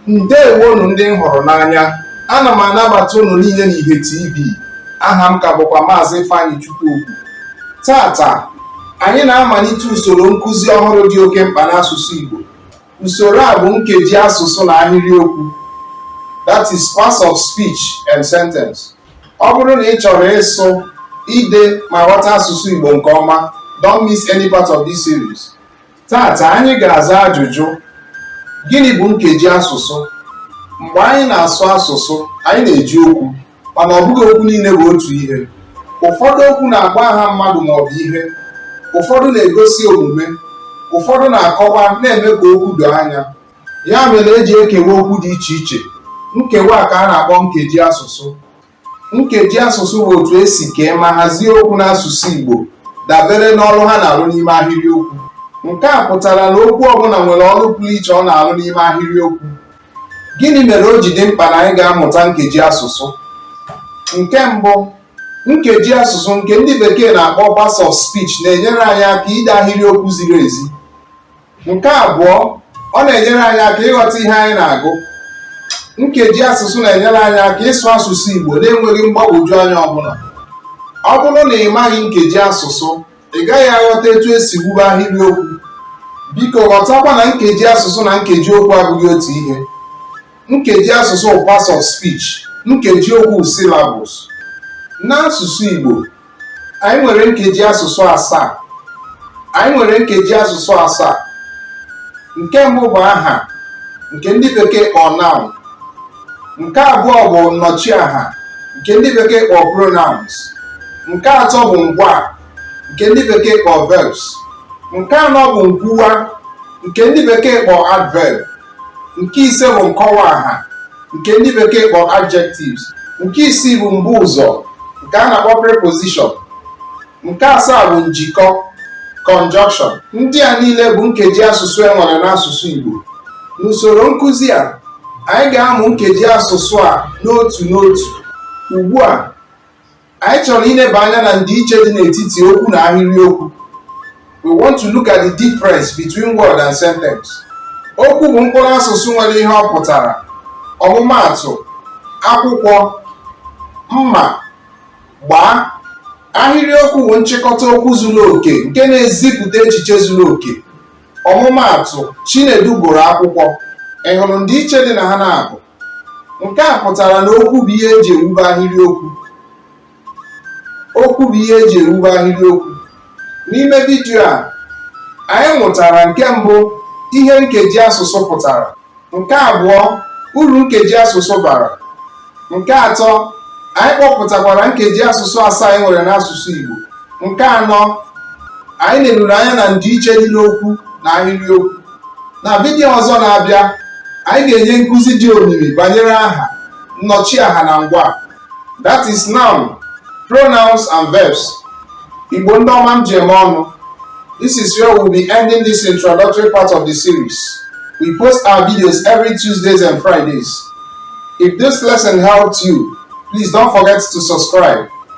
ndewonu ndị m hụrụ n'anya ana m anabata unu niile na Ihe TV aha m ka bụkwa maazị Ifeanyị Chukwuokwu tata anyị na-amalite usoro nkụzi ọhụrụ dị oke mkpa n'asụsụ Igbo usoro a bụ nkeji asụsụ na ahịrịokwu that is parts of speech and sentence ọ bụrụ na ị chọrọ ịsụ ide ma ghọta asụsụ Igbo nke ọma don't miss any part of this series Tata anyị ga-aza ajụjụ gịnị bụ nkeji asụsụ? Mgbe anyị na-asụ asụsụ, anyị na-eji okwu mana ọ bụghị okwu niile bụ otu ihe. Ụfọdụ okwu na-agba aha mmadụ ma ọ bụ ihe, ụfọdụ na-egosi omume, ụfọdụ na-akọwa na-eme ka okwu doo anya. Ya mere e ji ekewa okwu dị iche iche. Nkewa a ka a na-akpọ nkeji asụsụ. nkeji asụsụ bụ otu e si kee ma hazie okwu n'asụsụ Igbo dabere n'ọrụ ha na-arụ n'ime ahịrịokwu nke a pụtara na okwu ọbụla nwere ọrụ pụrụ iche ọ na-arụ n'ime ahịrịokwu gịnị mere o ji dị mkpa na anyị ga-amụta nkeji asụsụ nke mbụ nkeji asụsụ nke ndị bekee na-akpọ parts of speech na-enyere anyị aka ide ahịrịokwu ziri ezi nke abụọ ọ na-enyere anyị aka ịghọta ihe anyị na-agụ nkeji asụsụ na-enyere anyị aka ịsụ asụsụ Igbo na-enweghị mgbagwoju anya ọbụla ọ bụrụ na ị maghị nkeji asụsụ ị gaghị aghọta etu e si wube ahịrịokwu biko ghọtakwa na nkeji asụsụ na nkeji okwu abụghị otu ihe nkeji asụsụ bụ parts of speech nkeji okwu syllables n'asụsụ Igbo anyị nwere nkeji asụsụ asaa anyị nwere nkeji asụsụ asaa nke mbụ bụ aha nke ndị bekee kpọọ noun nke abụọ bụ nnọchiaha nke ndị bekee kpọọ pronouns nke atọ bụ ngwaa nke ndị bekee kpọọ verbs nke anọ bụ nkwuwa nke ndị bekee kpọọ adverb nke ise bụ nkọwaaha nke ndị bekee kpọọ adjectives nke isii bụ mbuụzọ nke a na-akpọ preposition nke asaa bụ njikọ conjunction ndị a niile bụ nkeji asụsụ e nwere n'asụsụ Igbo n'usoro nkụzi a anyị ga-amụ nkeji asụsụ a n'otu n'otu ugbu a anyị chọrọ ileba anya na ndịiche dị n'etiti okwu na ahịrịokwu we want to look at the difference between word and sentence okwu bụ mkpụrụ asụsụ nwere ihe ọ pụtara ọmụmaatụ akwụkwọ mma gbaa ahịrịokwu bụ nchịkọta okwu zuru oke nke na-ezipụta echiche zuru oke ọmụmaatụ chinedu gụrụ akwụkwọ ị hụrụ ndịiche dị na ha n'abụọ nke a pụtara na okwu bụ ihe e ji ewube ahịrịokwu n'ime vidiyo a anyị mụtara nke mbụ ihe nkeji asụsụ pụtara nke abụọ uru nkeji asụsụ bara nke atọ anyị kpọpụtakwara nkeji asụsụ asaa anyị nwere n'asụsụ Igbo nke anọ anyị leruru anya na ndịiche dị n'okwu na ahịrịokwu na vidiyo ọzọ na-abịa anyị ga-enye nkụzi dị omimi banyere aha nnọchiaha na ngwaa that is noun pronouns and verbs Igbo ndị ọma m ji eme ọnụ this is where we'll be ending this introductory part of the series we post our videos every tuesdays and fridays if this lesson helped you please don't forget to subscribe